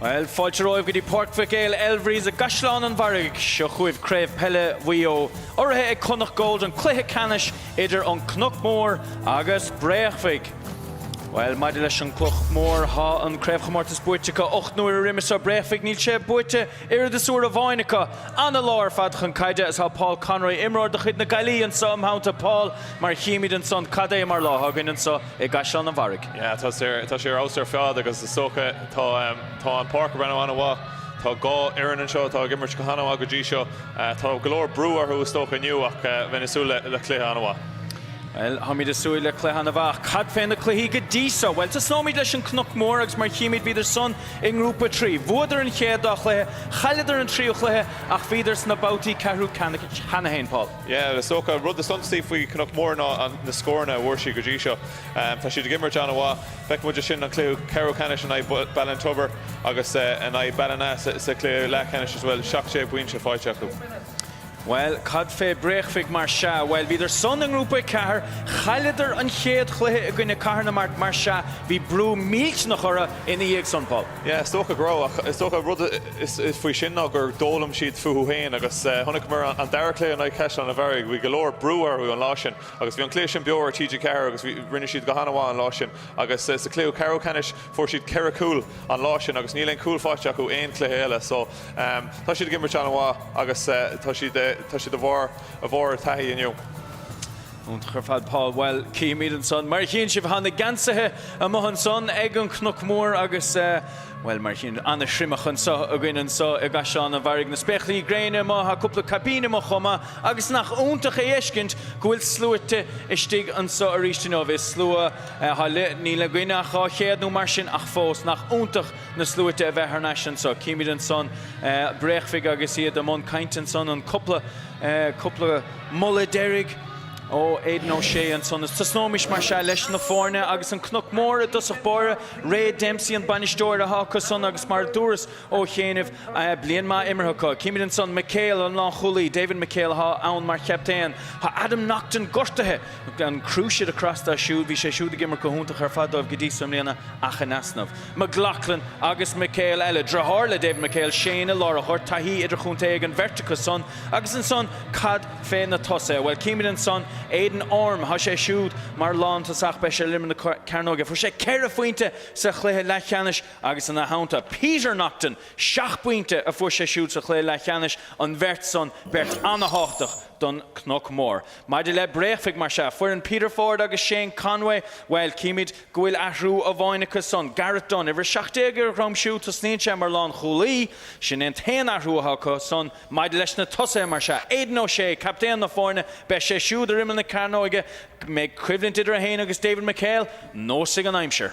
Bhuel, fáilte romhaibh go dtí Páirc Mhic Éil Elvery's i gCaisleán an Bharraigh. Seo chugaibh craobh peile Mhaigh Eo, urraithe ag Connacht Gold, an cluiche ceannais idir an Cnoc Mór agus Bréachmhaigh. Bhuel, maidir leis an gCnoc Mór, tá an craobhchomórtas buaite acu ocht n-uaire roimhe seo. Bréachmhaigh, níl sé buaite Oiread is uair amháin acu. Ana-lá ar fad chun caide is tá Paul Conroy, imreoir de chuid na Gaillimhe anseo im theannta. Paul, mar a chímid anso cad é mar lá atá againne anso i gCaisleán an Bharraigh. Yeah, tá sé ar fheabhas ar fad agus is dócha tá, tá an páirc ag breathnú an-mhaith. Tá dhá fhoireann anseo atá ag imirt go han-mhaith go dtí seo. Tá go leor brú orthu is dócha inniu ach bheinn ag súil le cluiche an-mhaith. Bhuel, táimid ag súil le cluiche an-mhaith. Ach cad fé na cluichí go dtí so? Bhuel, tosnóimid leis an Cnoc Mór agus mar a chímid bhíodar san I nGrúpa 3, bhuadar an chéad dá chluiche, chailleadar an tríú cluiche ach bhíodar sna babhtaí ceathrú ceannais cheana féin, Paul. Yeah, is dócha an rud is suntasaí faoi Chnoc Mór ná na scóranna a fuair siad go dtí seo. Tá siad ag imirt an-mhaith. Feiceann muid ansin an cluiche ceathrú ceannais in aghaidh Ballintubber agus in aghaidh Ballina sa chluiche leathcheannais is bhfuil 17 bpointe faighte acu. Bhuel, cad fé Bréachmhaigh mar sea? Bhuel, bhíodar san i nGrúpa 4, chailleadar an chéad chluiche i gcoinne Cathair na Mart mar sea bhí brú millteanach orthu ina dhiaidh san, Paul. Yeah, is dócha go raibh ach is dócha an rud faoi sin ná gur d'fhoghlaim siad fúthu héin agus chonaiceamar an dara cluiche in aghaidh Chaisleán an Bharraigh, bhí go leor brú orthu an lá sin agus bhí an cluiche sin beo ar TG4 agus bhí, rinne siad go han-mhaith an lá sin agus sa cluiche ceathrú ceannais fuair siad ceithre chúl an lá sin agus níl aon chúl faighte acu aon chluiche eile so Tá siad ag imirt an-mhaith agus tá, tá siad ag fáil go leor taithí inniu. Iontach ar fad Paul. Bhuel, címid ansan. Mar a chíonn sibh, tá na geansaithe amuigh ansan ag an Cnoc Mór agus, bhuel, mar a chíonn, ana-thriomach anso againne anso i gCaisleán an Bharraigh. Na spéaclaí gréine amuigh, tá cúpla caipín amuigh chomh maith agus nach iontach a fheiscint go bhfuil sluaite istigh anso arís inniu. Is slua atá, níl againn ach dhá chéad nó mar sin ach fós, nach iontach na sluaite a bheith thar n-ais anso. Címid ansan Bréachmhaigh agus iad i mbun cainte ansan, an cúpla, cúpla moladh deiridh ó Aidan O'Shea ansan. Is tosnóimis mar sea leis na foirne agus an Cnoc Mór i dtosach báire. Ray Dempsey an bainisteoir atá acu san agus mar a dúras ó chianaibh, bliain maith imeartha acu. Címid ansan McHale an leathchúlaí, David McHale atá ann mar chaptaen. Tá Adam Naughton gortaithe. an cruciate across dóibh siúd. Bhí sé siúd ag imirt go hiontach ar fad dóibh go dtí so i mbliana ach in easnamh. McLoughlin agus McHale eile. Driotháir le David McHale, Shane i lár an ghoirt. Taithí idirchontae ag an bheirt acu san. Agus ansan cad fé na tosaithe? Bhuel, címid ansan Aidan Orme. Tá sé siúd mar lántosach. Beidh sé ar imeall na cearnóige. Fuair sé ceithre phointe sa chluiche leathcheannais agus ina theannta Peter Naughton. Seacht bpointe a fuair sé siúd sa chluiche leathcheannais. An bheirt san, beirt ana-tháchtach don Chnoc Mór. Maidir le Bréachmhaigh, mar sea, foireann Peter Ford agus Shane Conway, bhuel, címid go bhfuil athrú amháin acu san, Gareth Dunne, uimhir 17 ar a dhroim, siúd, tosnaíonn sé mar lánchúlaí, sin é an t-aon athrú atá acu san. Maidir leis na tosaithe, mar sea, Aidan O'Shea, captaen na foirne, beidh sé siúd ar imeall na cearnóige, an mbeidh coimhlint idir é féin agus David McHale, neosfaidh an aimsir.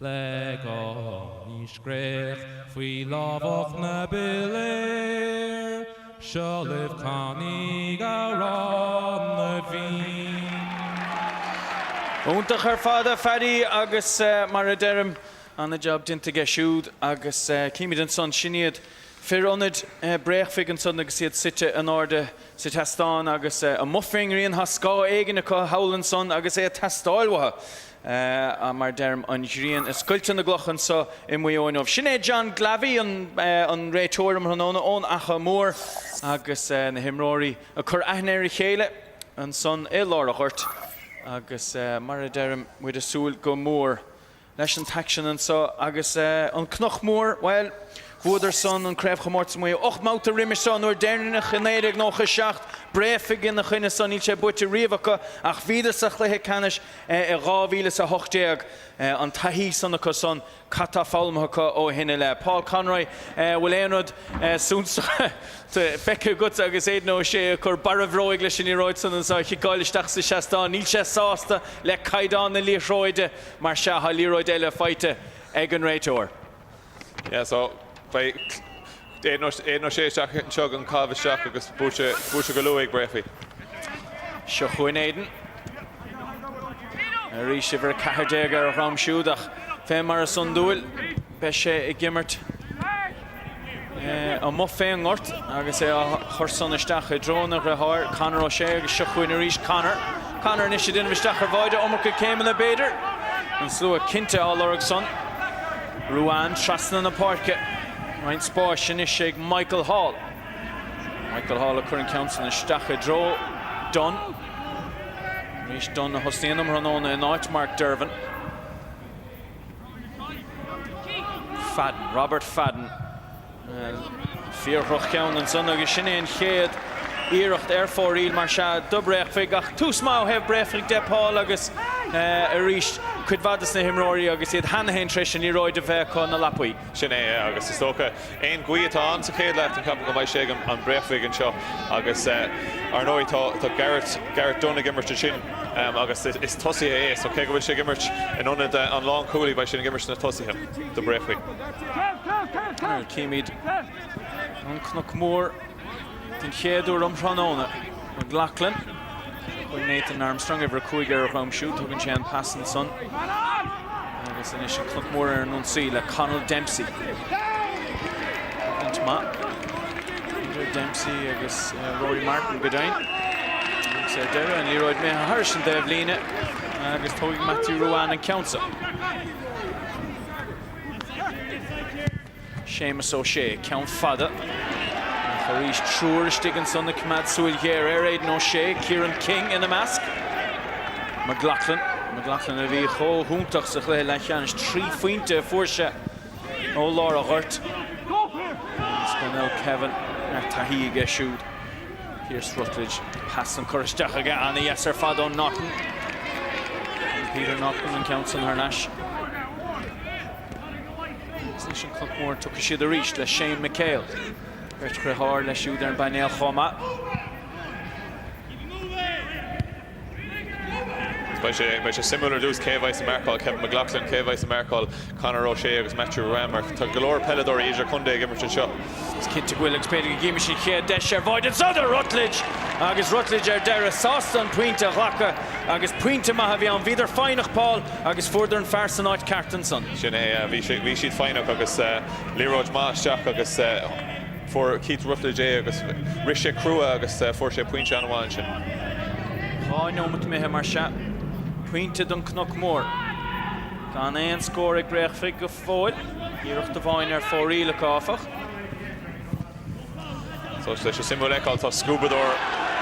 Le gunna scréach faoi lámhach na bpiléar, Seo libh canaídh Amhrán na bhFiann. Iontach ar fad a Phaddy agus mar a deirim, an-jab déanta aige siúd agus címid ansan, sin iad fir ionaid Bréachmhaigh ansan agus iad suite in airde sa tseastán agus amuigh fén ngrian, tá scáth éigin acu thall ansan agus é ag teastáil uathu. Sea, mar a deirim, an ghrian ag scoilteadh na gcloch anso i Muigh Eo inniu. Sin é John Glavey, an réiteoir um thráthnóna ón Achadh Mór, agus na himreoirí ag cur aithne ar a chéile ansan i lár an ghoirt. Agus, mar a deirim, muid ag súil go mór leis an t-aicsean anso. Agus an Cnoc Mór, bhuel, bhuadar san an craobhchomórtas i Muigh Eo ocht mbabhta roimis seo, an uair dheireanach i naoi déag nócha a seacht. Bréachmhaigh ina choinne san, níl sé buaite riamh acu, ach bhíodar sa chluiche ceannais, I 2018, an taithí san acu san, cad tá foghlamtha acu ó shin i leith? Paul Conroy, an bhfuil aon rud suntasach feicthe agat? Agus Aidan O'Shea ag cur barr a bhróige leis an liathróid san is á chiceáil isteach sa seastán, níl sé sásta le caighdeán na liathróide mar sea. Tá liathróid eile faighte ag an réiteoir. Yeah so beidh Aidan, Aidan O'Shea isteach anseo ag an gcaitheamh isteach agus boost, boost go luath ag Breaffy. Seo chugainn Aidan arís uimhir 14 ar a dhroim siúd ach fé mar is iondúil beidh sé ag imirt amuigh fé an ngort agus é á chur san isteach i dtreo a dhriotháir, Conor O'Shea agus seo chugainn arís Conor. Conor anois ag déanamh isteach ar bháide, iomarca céimeanna b'fhéidir. An slua cinnte á lorg san. Ruane trasna na páirce. Roinnt spáis anois ag Michael Hall. Michael Hall ag cur an ceann san isteach i dtreo Dunne. Arís Dunne a thosnaíonn um thráthnóna in áit Mark Dervan. Fadden, Robert Fadden. Fíor-dhroch-cheann ansan agus sin é an chéad iarracht ar fóraoil mar sea do Bréachmhaigh. Ach tús maith ó thaobh Bréachmhaigh de, Paul, agus arís cuid mhaith de na himreoirí agus iad cheana féin tar éis an liathróid a bheith acu ina lapaí. Sin é, agus is dócha, aon ghaoth atá ann sa chéad leath den champa, go mbeidh sé ag an Bréachmhaigh anseo. Agus, ar ndóigh, tá Gareth, Gareth Dunne ag imirt ansin agus is tosaí é, so cé go bhfuil sé ag imirt in ionad an lánchúlaí, beidh sé ag imirt sna tosaithe do Bréachmhaigh. Nuair a chímid an Cnoc Mór den chéad uair um thráthnóna, McLaughlin chuig Nathan Armstrong, uimhir a cúig ar a dhroim siúd, tugann sé an pas ansan agus anois an Cnoc Mór ar an ionsaí le Connell Dempsey. Coimhlint mhaith idir Dempsey agus eh, Rory Martyn go deimhin. Agus ar deireadh an liathróid imithe thar an dtaobhlíne agus tógfaidh Matthew Ruane an ceann Séamus Ó Sé, ceann fada, ach arís triúr istigh ansan ag coimeád súil ghéar ar Aidan Ó Sé, Kieran King ina measc. McLaughlin, McLaughlin a bhí chomh hiontach sa chluiche leathcheannais, trí phointe a fuair sé ó lár a ghoirt. Is Donnell Kevin ardtaithí aige siúd. Pearse Ruttledge, pas san curtha isteach aige, an-dheas ar fad ó Naughton. Buann Peter Naughton an ceann san thar n-ais. Is leis an Cnoc Mór an dtiocfaidh siad arís le Shane McHale. Beirt dheartháir leis siúd ar an bpainéal chomh maith. Beidh sé suimiúil ar dtús cé a bheas ag marcáil Kevin McLoughlin, cé a bheas ag marcáil Conor O'Shea agus Matthew Ruane mar tá go leor peileadóirí idirchontae ag imirt anseo. Is cinnte go bhfuil agus b'fhéidir go gcífimis an chéad deis ar bháide anseo do Ruttledge agus Ruttledge ar deireadh sásta an pointe a ghlacadh agus pointe maith a bhí ann. Bhíodar foighneach, Paul, agus fuaireadar an fear san áit ceart ansan. Sin é, bhí siad foighneach agus liathróid maith isteach agus. Fuair Keith Ruttledge é agus rith sé crua agus fuair sé pointe an-mhaith ansin. Dhá neomat imithe mar sea, pointe don Cnoc Mór. Gan aon scór ag Bréachmhaigh go fóill, iarracht amháin ar fóraoil acu áfach. Suimiúil a fheiceáil, tá scuabadóir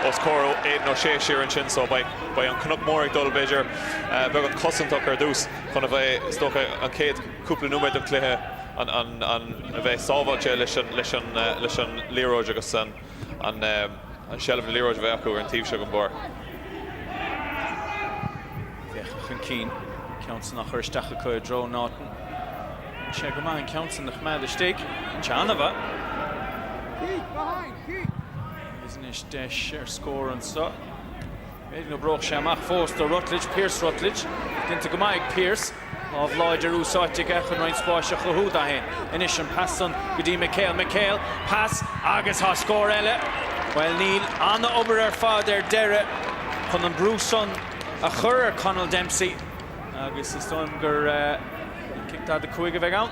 os comhair Aidan O'Shea siar ansin so beidh an Cnoc Mór ag dul b'fhéidir beagán cosantach ar dtús chun a bheith, is dócha, an chéad. cúpla nóiméad den chluiche, chun a bheith sábháilte leis an liathróid agus an seilbh na liathróid a bheith acu ar an taobh seo den bpáirc. Féachann chun cinn, ceann san á chur isteach acu i dtreo Naughton. Rinne sé go maith an ceann san a choimeád istigh. An ceann, a bheadh. Agus anois deis ar scór anseo. B'fhéidir go n-éireodh sé amach fós do Ruttledge, Pearse Ruttledge. Déanta go maith ag Pearse. Lámh láidir úsáidte aige chun roinnt spáis a chruthú dó fhéin. Anois an pas san go dtí McHale. McHale, pas agus tá scór eile! Bhuel níl, an-obair ar fad ar deireadh chun an brú san a chur ar Conall Dempsey agus is dóigh liom gur cic 45 a bheidh ann.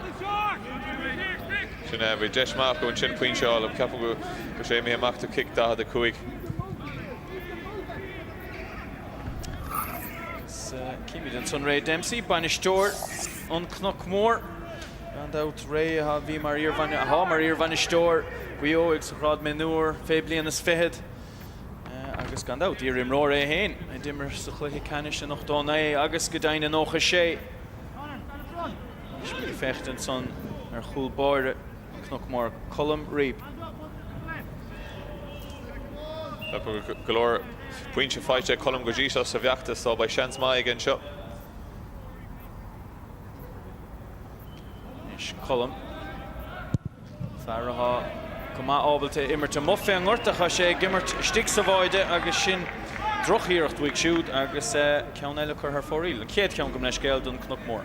Sin é, bhí deis maith acu ansin pointe a fháil. Ceapaim go raibh sé mí-ádhúil amach do chic 45. Címid ansan Ray Dempsey, bainisteoir an Cnoc Mór. Gan dabht Ray a bhí mar, atá mar iarbhainisteoir Mhaigh Eo ag sa ghrád mionúr fé bliain is fichead. Agus gan dabht iarimreoir é fhéin a d'imir sa chluiche ceannais in 89 agus go deimhin in 96. Anois is ag féachaint ansan ar chúl báire. Cnoc Mór Colm Reape. Tá go leor pointe faighte ag Colm go dtí seo sa bhfeachtas so beidh seans maith aige anseo. Anois Colm. Fear atá go maith ábalta imirt amuigh fé an ngort ach tá sé ag imirt istigh sa bháide agus sin drochiarracht uaidh siúd agus ceann eile curtha ar fóraoil. An chéad cheann gabh mo leithscéal don Cnoc Mór.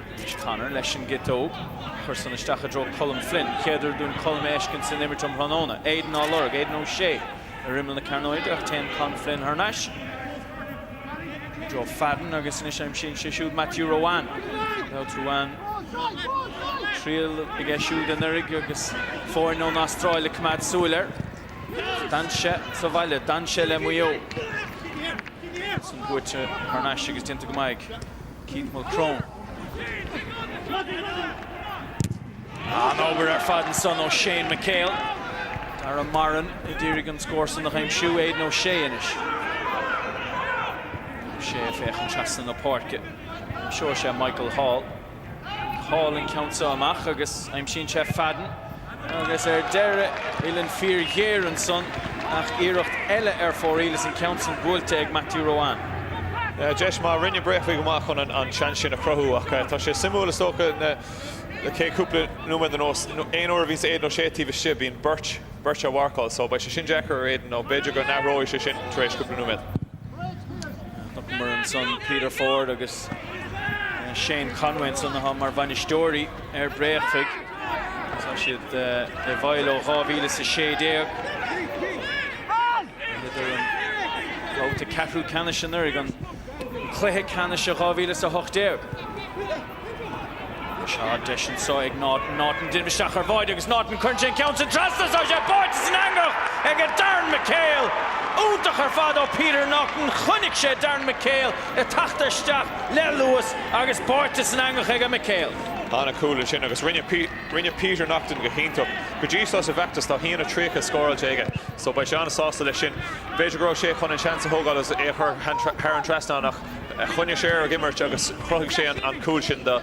Anois Conor leis an gciotóg. Curtha ansan isteach i dtreo Colm Flynn. Chéad uair dúinn Colm a fheiscint san imirt um thráthnóna. Aidan á lorg. Aidan O'Shea ar imeall na cearnóige ach téann Colm Flynn thar n-ais i dtreo Fadden agus anois aimsíonn sé siúd Matthew Ruane. Matthew Ruane, an-bhliain aige siúd anuraidh agus foirne ón Astráil ag coimeád súil air. D'fhan sé sa bhaile. D'fhan sé le Maigh Eo. Sin buaite thar n-ais agus déanta go maith ag Keith Mulcrone. An-obair ar fad ansan ó Shane McHale. Dara Moran ag iarraidh an scór san a aimsiú, Aidan O'Shea anois. O'Shea féachann trasna na páirce. Aimsíonn sé Michael Hall. Hall an ceann seo amach agus aimsíonn sé Fadden. Agus ar deireadh, uillinn fíorghéar ansan ach iarracht eile ar fóraoil is an ceann san buailte ag Matthew Ruane. Deis maith, rinne Bréachmhaigh go maith chun an seans sin a chruthú ach tá sé suimiúil is dócha na céad cúpla nóiméad anuas, aon uair a bhíonns Aidan O'Shea taobh istigh, bíonn beirt, beirt á mharcáil so beidh sé sin deacair ar Aidan nó b'fhéidir go n-athróidh sé sin tar éis cúpla nóiméad. Chonaiceamar ansan Peter Ford agus Shane Conway ansan atá mar bhainisteoirí. ar Bréachmhaigh. Tá siad i bhfeighil ó 2016. Bhuadar an babhta ceathrú ceannais anuraidh, an cluiche ceannais i 2018. Seo deis anseo ag Naughton. Naughton déanamh isteach ar bháide agus Naughton cuireann sé an ceann sin trasna. Tá sé báite san eangach ag Darren McHale. Iontach ar fad ó Peter Naughton. Chonaic sé Darren McHale ag teacht isteach le luas agus báite san eangach ag McHale. An-chúl ansin agus rinne Peter Naughton go hiontach go dtí seo sa bhfeachtas. Tá a haon 30 scóráilte aige so beidh sé an-sásta leis sin. B'fhéidir go raibh sé chun an seans a thógáil agus é a chur thar an trasnán ach choinnigh sé air ag imirt agus chruthaigh sé an cúl sin do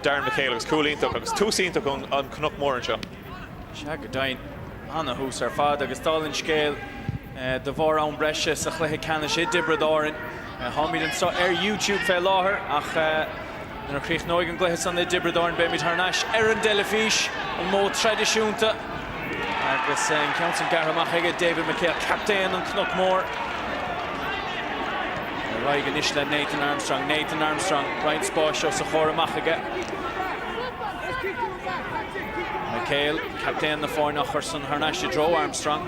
Darren McHale. Agus cúl iontach agus tús iontach don Chnoc Mór anseo. Sea go deimhin, ana-thús ar fad agus dála an scéil, de bharr am breise sa chluiche ceannais i dTiobraid Árainn, táimid anseo ar YouTube fé láthair ach nuair a chríochnóidh an gcluiche san i dTiobraid Árainn beimid thar n-ais ar an dteilifís, an modh traidisiúnta, agus an ceann san gearrtha amach aige David McHale, captaen an Cnoc Mór. Ar aghaidh anois le Nathan Armstrong, Nathan Armstrong, roinnt spáis os a chomhair amach aige. McHale, captaen na foirne á chur san thar n-ais i dtreo Armstrong.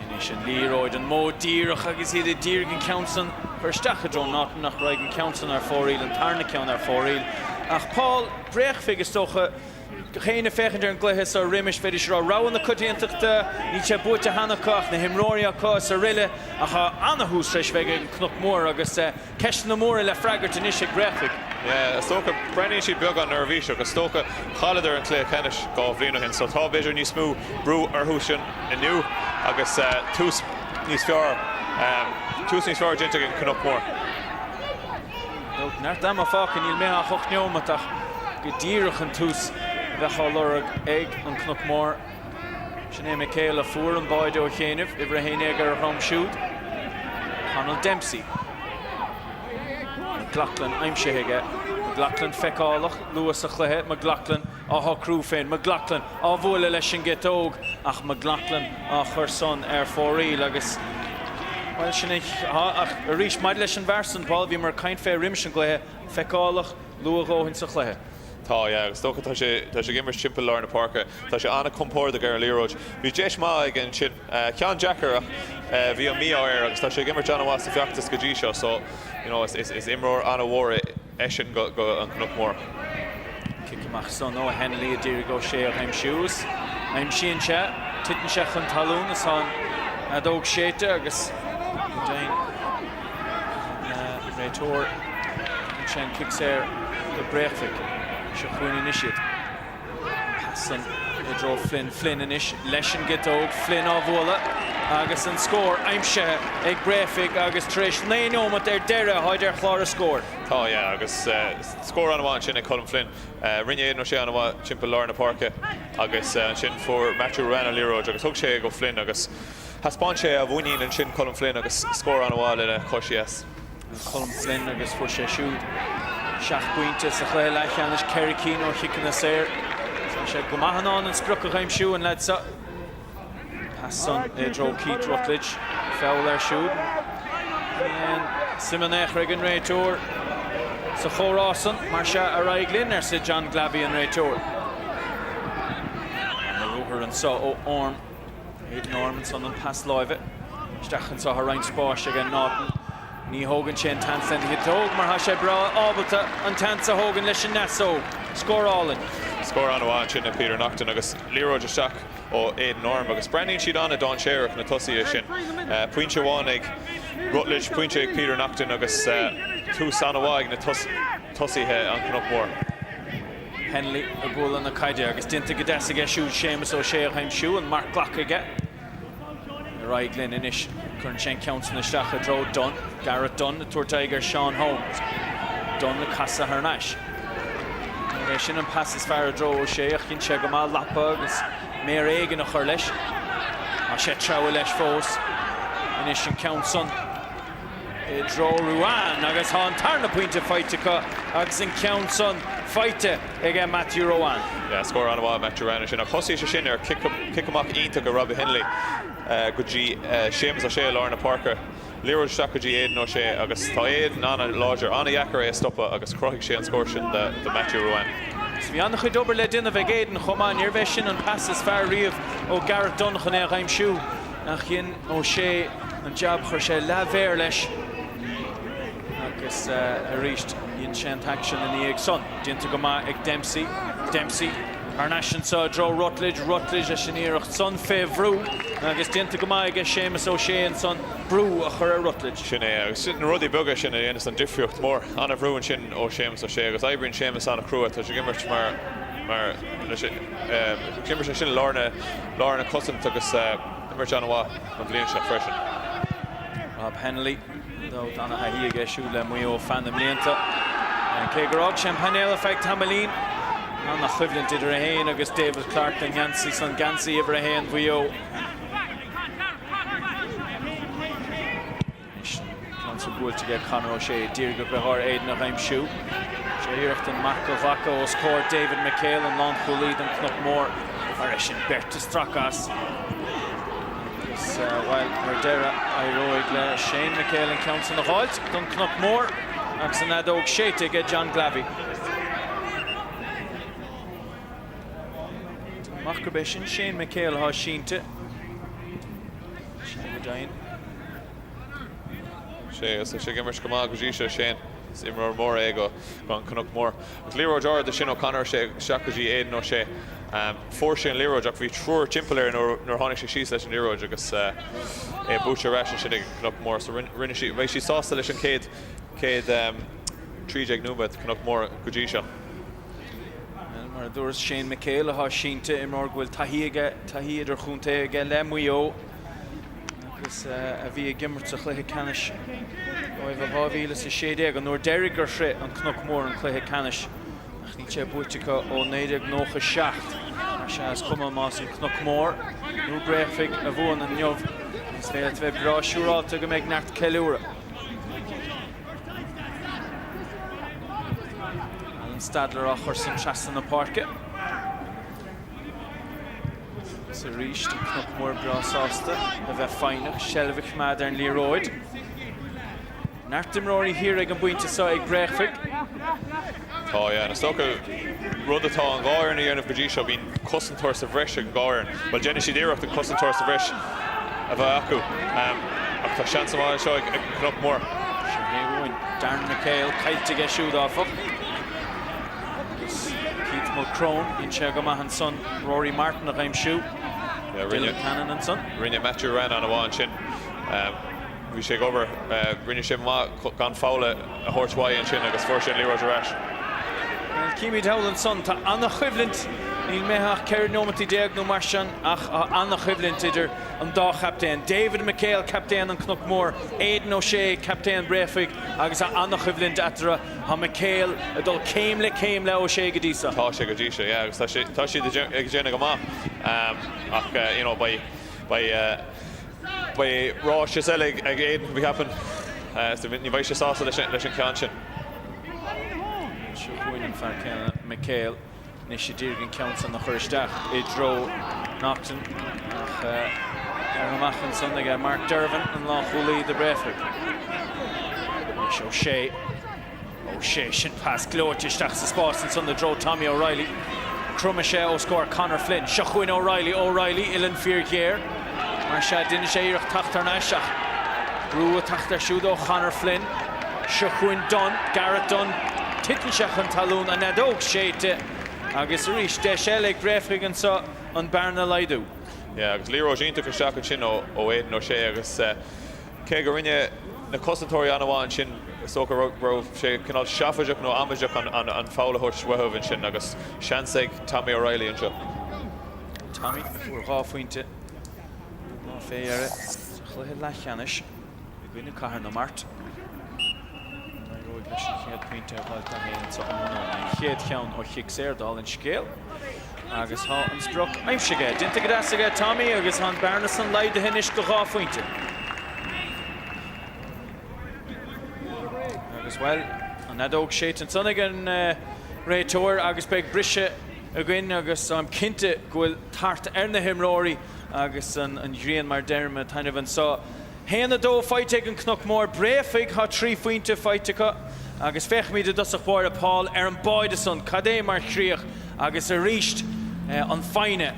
Anois an liathróid an modh díreach agus iad ag díriú ar an ceann san a chur isteach i dtreo Naughton ach raghaidh an ceann san ar fóraoil, an tarna ceann ar fóraoil. Ach Paul, bréachmhigh is dócha, gach éinne féachaint ar an gcluiche so roimis, bheidís ag rá rogha na coitiantachta, níl sé buaite cheana acu ach na himreoirí acu is aroile. Ach tá ana-thús tar éis a bheith ag an Cnoc Mhór agus. Ceisteanna móra le freagairt anois ag Bréachmhaigh. Yeah, is dócha. Breathnaíonn siad beagán neirbhíseach. Is dócha, chailleadar an cluiche ceannais dhá bhliain ó shin so tá, b'fhéidir, níos mó brú orthusan inniu agus tús níos fearr, tús níos fearr déanta ag an Cnoc Mór. Neart ama fágtha, níl imithe ach ocht neomat ach go díreach an tús a bheadh á lorg ag an Cnoc Mór. Sin é McHale a fuair an báide ó chianaibh, uimhir a haon déag ar a dhroim siúd. Connell Dempsey. McLoughlin aimsithe aige. McLoughlin feiceálach luath sa chluiche. McLoughlin á shocrú féin. McLoughlin á bhualadh leis an gciotóg. Ach McLoughlin á chur san ar fóraoil agus, bhuel, sin é. Aha, ach arís, maidir leis an bhfear san, Paul, bhíomar ag caint fé roimis an gcluiche, feiceálach luath dhóthain sa chluiche. Tá, yeah, agus is dócha tá sé, tá sé ag imirt timpeall lár na páirce. Tá sé an-chompordach ar an liathróid. Bhí deis maith aige ansin. Ceann deacair ach bhí an mí-ádh air agus tá sé ag imirt an-mhaith sa feachtas go dtí seo so, you know, is, is imreoir an-mhór é eisean do, don Cnoc Mór. Cic amach san ó Hennelly a d'iarraidh O'Shea a aimsiú is aimsíonn sé, titeann sé chun talún is ann a d'fhág Séite agus go deimhin. na réiteoir an sean cic saor do Bhréachmhaigh seo chugainn anois an pas san i dtreo Flynn Flynn anois leis an gciotóg Flynn á bhualadh agus an scór aimsithe ag Bréachmhaigh agus tar éis 9 neomat ar deireadh táid ar chlár na scór. Tá yeah agus scór an-mhaith ansin ag Colm Flynn rinne Aidan Ó Sé an-mhaith timpeall lár na páirce agus ansin fuair Matthew Ruane an liathróid agus thug sé é go Flynn agus Thaispeáin sé a mhuinín ansin Colm Flynn agus scór an-mhaith lena chois dheas. Colm Flynn agus fuair sé siúd seacht bpointe sa chluiche leathcheannais, ceithre cinn ó chiceanna saor. Tá sé go maith in ann an sprioc a aimsiú, an leaid seo. Pas san i dtreo Keith Rutledge. Feall ar siúd. Níl aon suim in aon chor ag an réiteoir sa chomhrá san. Mar seo ar aghaidh linn, arsa John Glavey, an réiteoir. Ar an ruathar anseo ó Orme. Ag Orme ansan an pas láimhe isteach anseo tá roinnt spáis ag Naughton. Ní thógann sé an seans lena chiotóg mar tá sé breá ábalta an seans a thógaint leis an ndeasóg. Scór álainn. Scór an-mhaith sin ag Peter Naughton agus liathróid isteach ó Aidan Orme agus breathnaíonn siad ana-dhainséarach na tosaithe sin. Pointe amháin ag Rutledge, pointe ag Peter Naughton agus tús ana-mhaith ag na tosaithe an Chnoc Mhór. Hennelly ag bualadh na caide agus déanta go deas aige siúd. Séamus Ó Sé á aimsiú an marc glactha aige. Ar aghaidh linn anois. Cuireann sé an ceann san isteach i dtreo Dunne. Darragh Dunne ag tabhairt aghaidh ar Seán Holmes. Dunne ag casadh thar n-ais. Níorbh é sin an pas is fearr i dtreo Ó Sé ach dhein sé go maith lapa agus méar éigin a chur leis. Tá sé ag treabhadh leis fós. Anois an ceann san. i dtreo Ruane agus tá an tarna pointe faighte acu agus an ceann san faighte ag Matthew Ruane. Yeah scór an-mhaith ag Matthew Ruane ansin ach thosaigh sé sin ar chic amach iontach ag Robbie Hennelly go dtí Séamus Ó Sé i lár na páirce. Liathróid isteach go dtí Aidan Ó Sé agus tá Aidan an-láidir, an-dheacair é a stopadh agus chruthaigh sé an scór sin do Matthew Ruane. Is bhí an-chuid obair le déanamh ag Aidan chomh maith, níorbh é sin an pas is fearr riamh ó Darragh Dunne chun é a aimsiú. ach dhein Ó Sé an jab chuir sé leathmhéar leis agus arís dhein sé an t-aicsean ina dhiaidh san. Déanta go maith ag Dempsey. Dempsey thar n-ais anseo i dtreo Rutledge. Rutledge leis an iarracht san fé bhrú agus déanta go maith aige Séamus Ó Sé ansan brú a chur ar Rutledge. Sin é agus sin na rudaí beaga sin a dhéanas an difríocht mór. An-bhrú ansin ó Séamus Ó Sé agus oibríonn Séamus an-chrua. Tá sé ag imirt mar, mar, leis an. D'imir sé sin i lár na cosaint agus d'imir sé an-mhaith an bhliain seo freisin. Rob Hennelly, ar ndóigh an-thaithí aige siúd le Maigh Eo feadh na mblianta. Cé gur fhág sé an painéal ar feadh tamaillín, an-choimhlint idir é féin agus David Clarke don gheansaí san, geansaí uimhir a haon Mhaigh Eo. Anois ceann buailte aige Conor O'Shea i ag tnúth go mór Aidan a aimsiú. Is iarracht an marc a ghlacadh os comhair David McHale, an lánchúlaí don Chnoc Mór. Mar sin, beirt ag stracadh as. Agus, bhuel, ar deireadh, éiríonn le Shane McHale an ceann san a dh'fháilt don Chnoc Mór agus an fheadóg séidte aige, John Glavey. An fear céanna ansin, Shane McHale, atá sínte. Síneadh go deimhin. Sea agus tá sé ag imirt go maith go dtí seo. Shane, is imreoir mór é do do an Cnoc Mór. Agus liathróid ard ó Sheamie, chuir sé isteach go dtí Aidan O'Shea. Um, fuair sé an liathróid ach bhí triúr timpeall air nuair nuair tháinig sé síos leis an liathróid agus uh, é buaite arís ansin ag Cnoc Mór so beidh siad, beidh siad sásta leis an céad céad um, 13 nóiméad Cnoc Mór go dtí seo. mar a dúrais Shane McHale atá sínte, imreoir a bhfuil taithí idirchontae aige le Maigh Eo agus a bhí ag imirt sa chluiche ceannais roimhe in 2016, an uair dheiridh gur shroich an Cnoc Mór an cluiche ceannais, ach níl sé buaite acu ó 1997. Mar sin, is cuma más an Cnoc Mór nó Bréachmhaigh a bhuann inniu, is féidir leat a bheith breá siúrálta go mbeidh neart ceiliúradh. Alan Stadler ag cur san trasna na páirce. Is arís an Cnoc Mór breá sásta a bheith foighneach, seilbh a choimeád ar an liathróid. Neart imreoirí thiar ag an bpointe seo ag Bréachmhaigh. Tá sé ana-shuntasach. Rud atá an dá fhoireann a dhéanamh go dtí seo, bíonn cosantóir sa bhreis ag an dá fhoireann. Bhuel, déanfaidh siad iarracht an cosantóir sa bhreis a bheith acu. Ach tá seans amháin anseo ag an Cnoc Mór. Sin é uaim é. Darren McHale, caillte aige siúd, áfach. Agus Keith Mulchrone, déanann sé go maith ansan Rory Martin a aimsiú. Dylan Cannon ansan. Rinne Matthew Ruane an-mhaith ansin. Bhí sé ag obair, rinne sé maith gan foul a thabhairt uaidh ansin agus fuair sé an liathróid ar ais. Bhuel, címid thall ansan. Tá an-choimhlint, níl imithe ach 14 nóimeat nó mar sin, ach tá an-choimhlint idir an dá chaptaen. David McHale, captaen an Chnoc Mhóir, Aidan O'Shea, captaen Bréachmhaigh, agus tá an-choimhlint eatarthu. Tá McHale ag dul céim le céim le O'Shea go dtí seo. Tá sé go dtí seo, yeah, agus tá sé, tá siad ag déanamh go maith. Ach, you know, beidh, beidh, beidh seans eile ag Aidan, b'fhéidir, so ní bheidh sé sásta leis an, leis an ceann sin. Seo chugainn an fear céanna, McHale. Anois ad iarraidh an ceann san a chur isteach i dtreo Naughton ach fear amach ansan ag Mark Dervan, an lánchúlaí do Bhréachmhaigh. Anois O'Shea. O'Shea, sin pas gleoite isteach sa spás ansan i dtreo Tommy O'Reilly. Cromann sé os comhair Conor Flynn. Seo chugainn O'Reilly, O'Reilly, uillinn fíor-ghéar. Mar seo a d'inis sé iarracht teacht thar n-ais ach brú a theacht air siúd ó Chonor Flynn. Seo chugainn Dunne, Gareth Dunne. Titeann sé chun talún, an fheadóg séidte agus arís deis eile ag Bréifne anseo an bhearna a laghdú. Yeah agus liathróid iontach isteach ansin ó Aidan O'Shea agus cé go rinne na cosantóirí an-mhaith ansin is dócha go raibh sé cineál seafóideach nó amaideach an foul a thabhairt uathubh ansin agus seans ag Tommy O'Reilly anseo. Tommy a fuair dhá phointe ón lá fé dheireadh sa chluiche leathcheannais i gcoinne Cathair na Mart. An éireoidh leis an chéad pointe a dh'fháil do anso inniu? An chéad cheann ó chic saor, dála an scéil. Agus tá an sprioc aimsithe aige. Déanta go deas aige Tommy agus tá an bearna san laghdaithe anois go dhá phointe. Agus, bhuel, an fheadóg séidte ansan ag an réiteoir agus beidh briseadh againn agus táim cinnte go bhfuil tart ar na himreoirí agus an ghrian mar deirim, ag taitneamh anseo. A haon, a dó faighte ag an Cnoc Mór, Bréafaigh tá trí phointe faighte acu agus féachfaimid i dtosach báire Paul ar an mbáide san, cad é mar chríoch agus arís an foighne.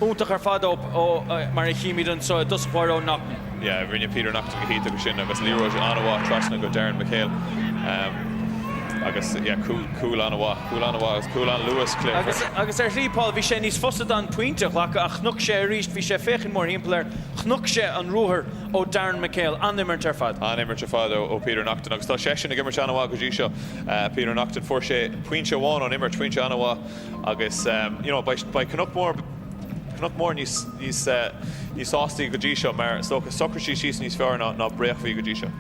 Iontach ar fad ó, mar a chímid anseo i dtosach báire, ó Naughton. Yeah, rinne Peter Naughton go hiontach ansin agus liathróid an-mhaith trasna go Darren McHale. Agus, yeah, cúl, cúl an-mhaith, cúl an-mhaith agus cúl an-luachmhar. Agus, agus ar shlí, Paul, bhí sé níos fusa dó an pointe a ghlacadh ach chonaic sé arís, bhí sé ag féachaint mórthimpeall air, chonaic sé an ruathar ó Darren McHale. An-imirt ar fad. An-imirt ar fad ó Peter Naughton agus tá seisean ag imirt an-mhaith go dtí seo, Peter Naughton. Fuair sé pointe amháin ón imirt, pointe an-mhaith. Agus you know beidh beidh Cnoc Mór Cnoc Mór níos níos níos sástaí go dtí seo mar is dócha shocraigh siad síos níos fearr ná ná Bréafaigh go dtí seo.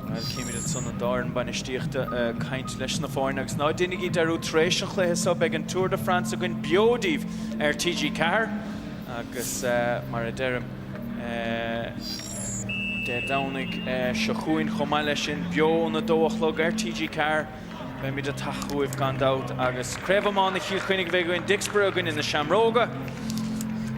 Bhuel chímid ansan an dá fhoireann bainistíochta ag caint leis na foirne agus ná déanaigí dearúd tar éis an chluiche so beidh an Tour de France againn beo daoibh ar TG4 agus mar a deirim Dé Domhnaigh seo chugainn chomh maith leis sin beo óna dó a chlog ar TG4. Beimid ag teacht chugaibh gan dabht agus Craobh Iomána Chill Chainnigh a bheidh againn, Dicksboro i gcoinne na Seamróga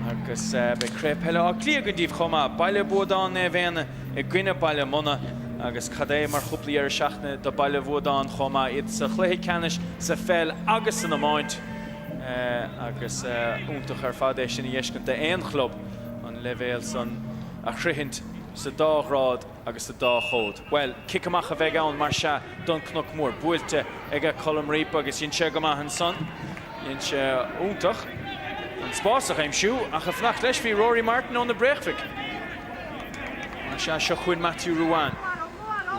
agus beidh Craobh Peile Átha Cliath againn daoibh chomh maith, Baile Buadáin Naomh Éanna i gcoinne Baile Munna agus cad é mar chúpla deireadh seachtaine do Baile Bhuadáin chomh maith, iad sa chluiche ceannais sa pheil agus san iomáint agus iontach ar fad é sin a dh'fheiscint d'aon chlub an leibhéal san a shroichint sa dá ghrád. Agus sa dá chás, bhuel, cic amach a bheidh ann, mar sea, don Chnoc Mór. Buailte ag Colm Reape agus dhein sé go maith ansan. Dhein sé iontach an spás a aimsiú, ach ag fanacht leis bhí Rory Martin ó Bhréachmhaigh. Mar sea, seo chugainn Matthew Ruane.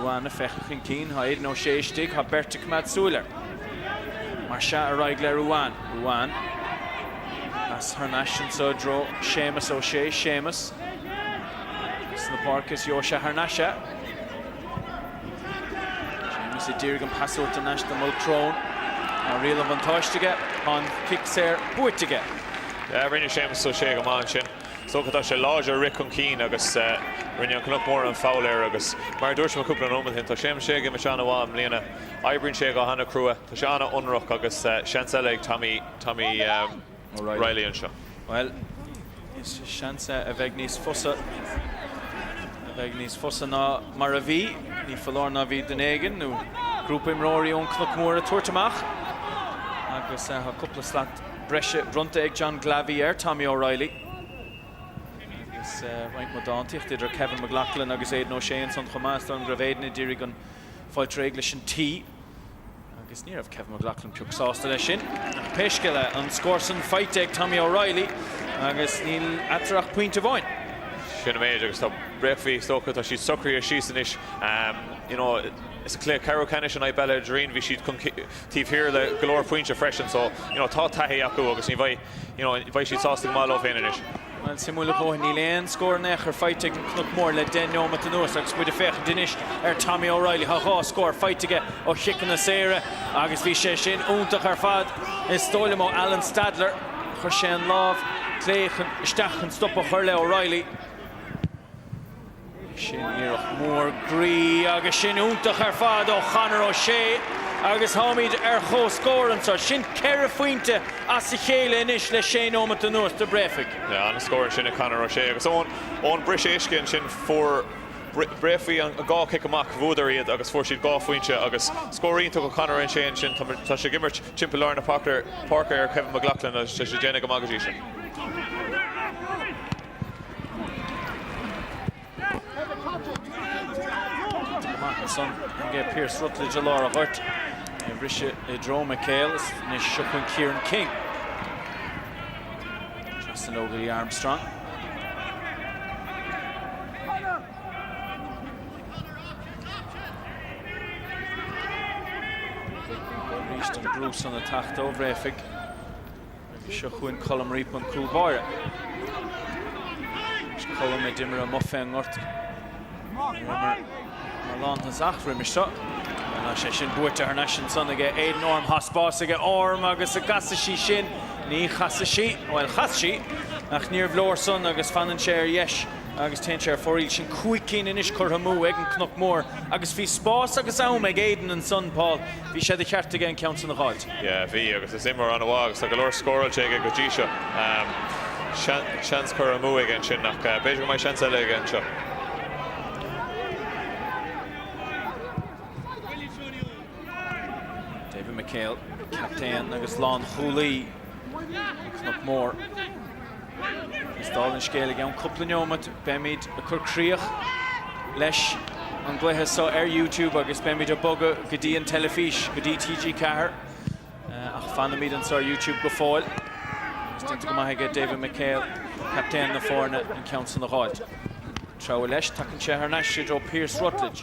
Ruane ag féachaint chun cinn, tá Aidan O'Shea istigh, tá beirt ag coimeád súil air. Mar sea, ar aghaidh le Ruane. Ruane, pas thar n-ais anso i dtreo Sheamus O'Shea. Sheamus. sna páirce is Joe sé thar n-ais é. Séamus ag iarraidh an pas a thabhairt thar n-ais do Mulchrone. Tá riail an bhuntáiste aige. Tá an cic saor buaite aige. Rinne Séamus Ó Sé go maith ansin. Is dócha tá sé láidir ag rith chun cinn agus rinne an Cnoc Mór an foul air agus mar a dúirt mé cúpla nóiméad ó shin, tá Séamus Ó Sé ag imirt an-mhaith i mbliana. Oibríonn sé go h-ana chrua. Tá sé an-ionraic agus seans eile ag Tommy Tommy. O'Reilly anseo. Bhuel, is seans é a bheidh níos fusa, a bheidh níos fusa ná mar a bhí, ní foláir nó bhí duine éigin nó grúpa imreoirí ón gCnoc Mór ag tabhairt amach agus tá cúpla slat breise bronnta ag John Glavey ar Tommy O'Reilly agus roinnt mhaith dántaíochta idir Kevin McLoughlin agus Aidan O'Shea ansan chomh maith, is dóigh liom go raibh Aidan ag iarraidh an foul a tharraingt leis an tí. Agus ní raibh Kevin McLoughlin pioc sásta leis sin. Ach pé scéal é, an scór san faighte ag Tommy O'Reilly agus níl eatarthu ach pointe amháin. Sin an méid agus tá Bréifigh, is dócha, tá siad socraithe síos anois. You know, sa chluiche ceathrú ceannais in aghaidh Bhaile an Doirín, bhí siad chun taobh thiar le go leor pointe freisin. So, you know, tá taithí acu agus ní bheidh. You know, beidh siad sásta go maith leo féin anois. Bhuel, suimiúil a dhóthain, níl aon scór in aon chor faighte ag an gCnoc Mór le deich nóimeat anuas agus muid ag féachaint anois ar Tommy O'Reilly. Tá dhá scór faighte aige ó chiceanna saora agus bhí sé sin iontach ar fad. Is dóigh liom ó Alan Stadler, chuir sé an lámh clé isteach chun stop a chur le O'Reilly. Sin iarracht mhór groí agus sin iontach ar fad ó Chonor O'Shea agus táimid ar chomhscór anseo. Sin ceithre phointe as a chéile anois le sé nóimeat anuas do Bhréifigh. An-scór ansin ag Conor O'Shea agus ón bpress up ansin fuair Bréifigh an dhá chic amach, bhuadar iad agus fuair siad dhá phointe agus scór iontach ó Chonor O'Shea ansin. Tá sé ag imirt timpeall lár na páirce ar Kevin McLoughlin agus tá sé ag déanamh go maith go dtí seo. Mark ansan ag Pearse Rutledge i lár an ghoirt. Ag briseadh i dtreo McHale anois seo chun Kieran King. Trasna leo go dtí Armstrong. Arís an brú san ag teacht ó Bhréifigh. Agus seo chugainn Colm Reape an cúl báire. Is Colm a d'imir amuigh fén ngort. mar lántosach roimis seo. Tá sé sin buaite thar n-ais ansan aige Aidan Orme. Thá spás aige Orme agus an gcasfaidh sí sin. Ní chasfaidh sí. Bhuel, chas sí ach níorbh leor san agus fanann sé ar dheis agus téann sé ar fóraoil. Sin cúig cinn anois curtha amú ag an gCnoc Mór agus bhí spás agus am ag Aidan ansan, Paul. Bhí sé de cheart aige an ceann san a dh'fháilt. Bhí, agus is imreoir an-mhaith agus tá go leor scóráilte aige go dtí seo. Seans curtha amú aige ansin ach b'fhéidir go mbeidh seans eile aige anseo. David McHale, captaen agus lánchúlaí Cnoc Mór. Is dála an scéil i gceann cúpla neomat beimid ag cur críoch leis an gcluiche so ar YouTube agus beimid ag bogadh go dtí an teilifís, go dtí TG4. Ach fanfaimid anso ar YouTube go fóill. Is déanta go maith aige David McHale, captaen na foirne, an ceann san a dh'fháilt. Treabhadh leis, tugann sé thar n-ais í i dtreo Pearse Ruttledge.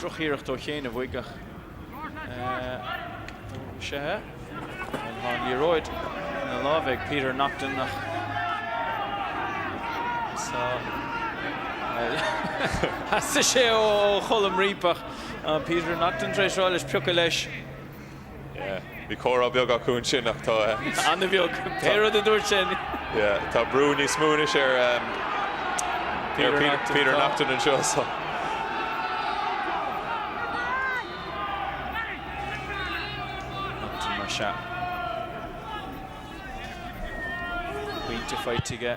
Droch-iarracht ó chianaibh uaidh ach tá an liathróid ina láimh ag Peter Naughton ach theastaigh sé ó Cholm Reape ach Peter Naughton tar éis rá leis piocadh leis. Yeah. Bhí comhrá beag acu ansin ach tá eh, Anna bheag, pé rud a dúirt sin. yeah, tá brú níos múnis ar um, Peter ar Peter, Naughton, Peter tá. Naughton an seo. So. Naughton mar se. Pointe feitige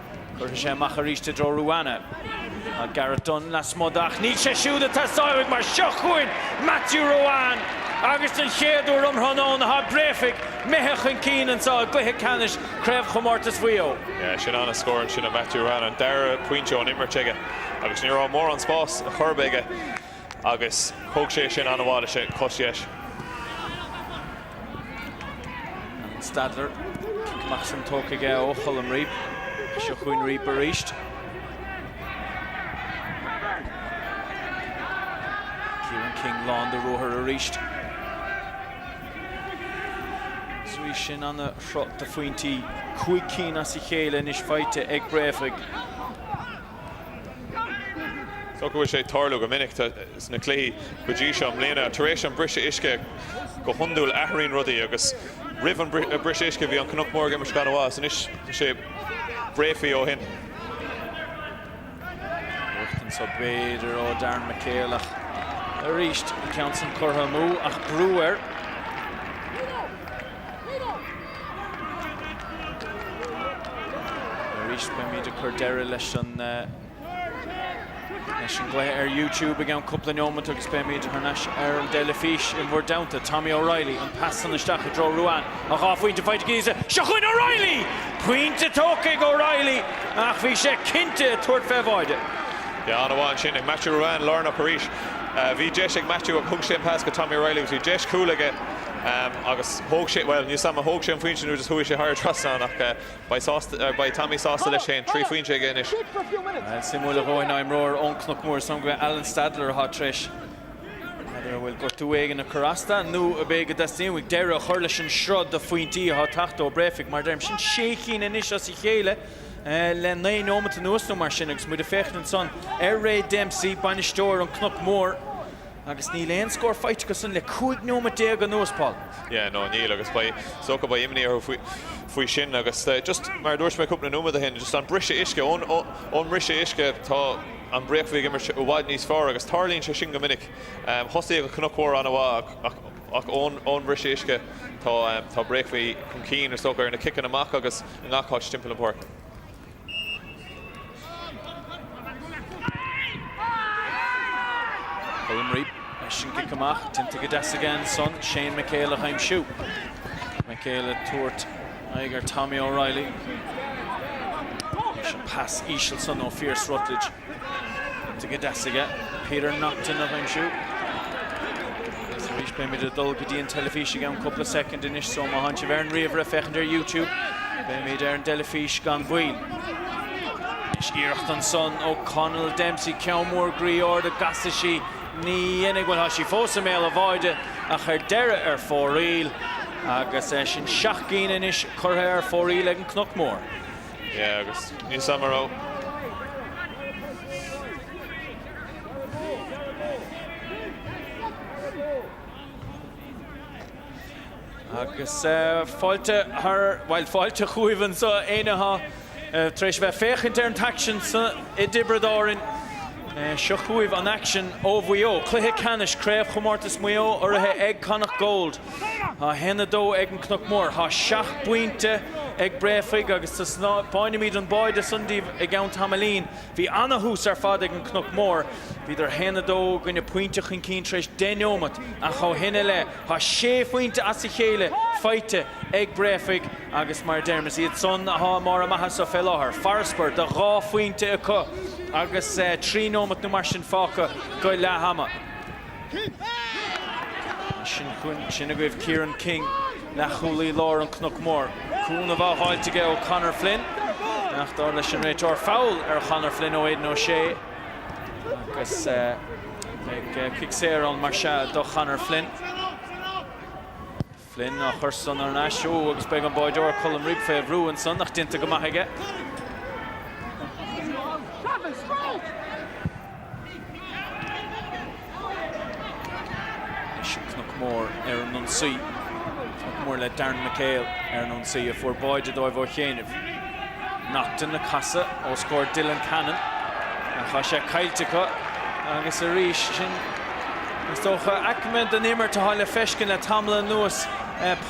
Cuirfidh sé amach arís i dtreo Ruane. Tá Gareth Dunne lasmuigh de ach níl sé siúd ag teastáil uaidh mar seo chugainn Matthew Ruane agus den chéad uair um thráthnóna tá Bréachmhaigh imithe chun cinn anseo i gcluiche ceannais Chraobhchomórtas Mhaigh Eo. Sin an-scór ansin ó Matthew Ruane, an dara pointe ón imirt aige agus ní raibh mórán spáis chor ar bith aige. agus thóg sé sin ana mhaith leis an gcois dheis. Alan Stadler, cic amach ansan tógtha aige ó Cholm Reape. Is seo chugainn Reape arís. Kieran King lán de ruathar arís. Is arís sin ana shruth de phointí, cúig cinn as a chéile anois faighte ag Bréachmhaigh. Is dócha go bhfuil sé ag tarlú go minic sna cluichí go dtí seo i mbliana. Tar éis an briseadh uisce go hiondúil athraíonn rudaí agus roimh an briseadh uisce bhí an Cnoc Mór ag imirt an-mhaith is anois tá sé Bréachmhaigh ó shin. Iarracht anseo b'fhéidir ó Darren McHale ach arís an ceann sin curtha amú agus brú air. Arís beimid ag cur deireadh leis an gcluiche ar YouTube i gceann cúpla neomant agus beimid thar n-ais ar an dteilifís in bhur dteannta. Tommy O'Reilly, an pas san isteach i dtreo Ruane, a dhá phointe faighte aigesean, seo chugainn O'Reilly! Pointe tógtha ag O'Reilly ach bhí sé cinnte ag tabhairt fén mbáide. Ceann amháin sin ag Matthew Ruane, lárnach arís. Bhí deis ag Matthew ach thug sé an pas go Tommy O'Reilly agus bhí deis cúl aige. Am, agus thóg sé, bhuel, níos mó ama, thóg sé an phointe nuair is chuaigh sé thar trasnán ach beidh sásta, beidh Tommy sásta leis féin, trí phointe aige anois. An-suimiúil ar ndóigh imreoir ón Cnoc Mhór is dóigh gurb é Alan Stadler atá tar éis Stadler a bhfuil gortú éigin ag cur as dó, nó ab é go dteastaíonn uaidh deireadh a chur leis an sruth de phointí atá tagtha ó Bréachmhaigh, mar deirim, sin sé chinn anois as a chéile le naoi nóimeat anuas nó mar sin agus muid ag féachaint ansan ar Ray Dempsey, bainisteoir an Cnoc Mhór. Agus níl aon scór faighte acu sin le 15 nóimeat anuas, Paul. Yeah, no, níl agus beidh, is dócha, beidh imní orthu faoi sin agus just, mar a dúirt mé cúpla nóiméad ó shin, just an briseadh uisce, ón, ón mbriseadh uisce, tá an Bréachmhaigh ag imirt i bhfad níos fearr agus tarlaíonn sé sin go minic. Thosaigh an Cnoc Mhór an-mhaith ach, ach, ach ón, ón mbriseadh uisce, tá, tá Bréachmhaigh chun cinn, is dócha, ar na ciceanna amach agus i ngach áit timpeall an pháirc. Conroy leis an gcic amach, déanta go deas aige ansan, Shane McHale a aimsiú. McHale ag tabhairt aghaidh ar Tommy O'Reilly. Leis an pas íseal san ó Phearse Ruttledge. Déanta go deas aige Peter Naughton a aimsiú. Agus arís beimid ag dul go dtí an teilifís i gceann cúpla soicind anois so má tánn sibh ar an ríomhaire féachaint ar YouTube beimid ar an dteilifís gan mhoill. Anois iarracht ansan ó Conall Dempsey ceann mór groí ard an gcasfaidh sí ní dhéanfaidh bhuel tá sí fós i mbéal a bháide ach ar deireadh ar fóraoil agus sin seacht gcinn anois curtha ar fóraoil ag an Cnoc Mór. Yeah agus níl sam a raibh. Agus fáilte thar, bhuel fáilte chugaibh anseo éinne atá tar éis a bheith féachaint ar an t-aicsean san i dTiobraid Árainn. Seo chugaibh an aicsean ó Mhaigh Eo, cluiche ceannais Craobh Chomórtas Maigh Eo urraithe ag Connacht Gold. Tá 1, 2 ag an Cnoc Mór, tá seacht bpointe ag Bréafaigh agus taispeánfaimid an báide san díbh i gceann tamaillín. Bhí ana-thús ar fad ag an Cnoc Mór. Bhíodar 1, 2 i gcoinne pointe chun cinn tar éis deich neomat ach ó shin i leith tá sé phointe as a chéile faighte ag Bréafaigh agus mar a deirim is iad san atá i mbarr a maitheasa fé láthair. Farasbarr de dhá phointe acu agus trí neomat nó mar sin fágtha go leath ama. Ansin chugainn, sin agaibh Kieran King, leathchúlaí láir an Chnoic Mhóir. Cúnamh á fháilt aige ó Conor Flynn, ach dar leis an réiteoir, foul ar Chonor Flynn ó Aidan O'Shea. Agus beidh cic saor ann mar sin do Chonor Flynn. Flynn á chur san ar ais agus beidh an báideoir Colm Reape fé bhrú ansan ach déanta go maith aige. Mór le Darren McHale ar an ionsaí a fuair báide dóibh ó chianaibh. Naughton ag casadh os comhair Dylan Cannon ach tá sé caillte acu agus arís sin, is dócha, aicme den imirt atá le feiscint le tamall anuas,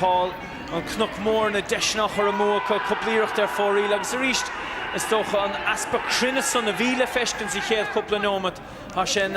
Paul. An Cnoc Mór, na deiseanna á chur amú acu, cúpla iarracht ar fóraoil agus arís, is dócha, an easpa cruinne san a bhí le feiscint sa chéad chúpla neomat. Tá sé in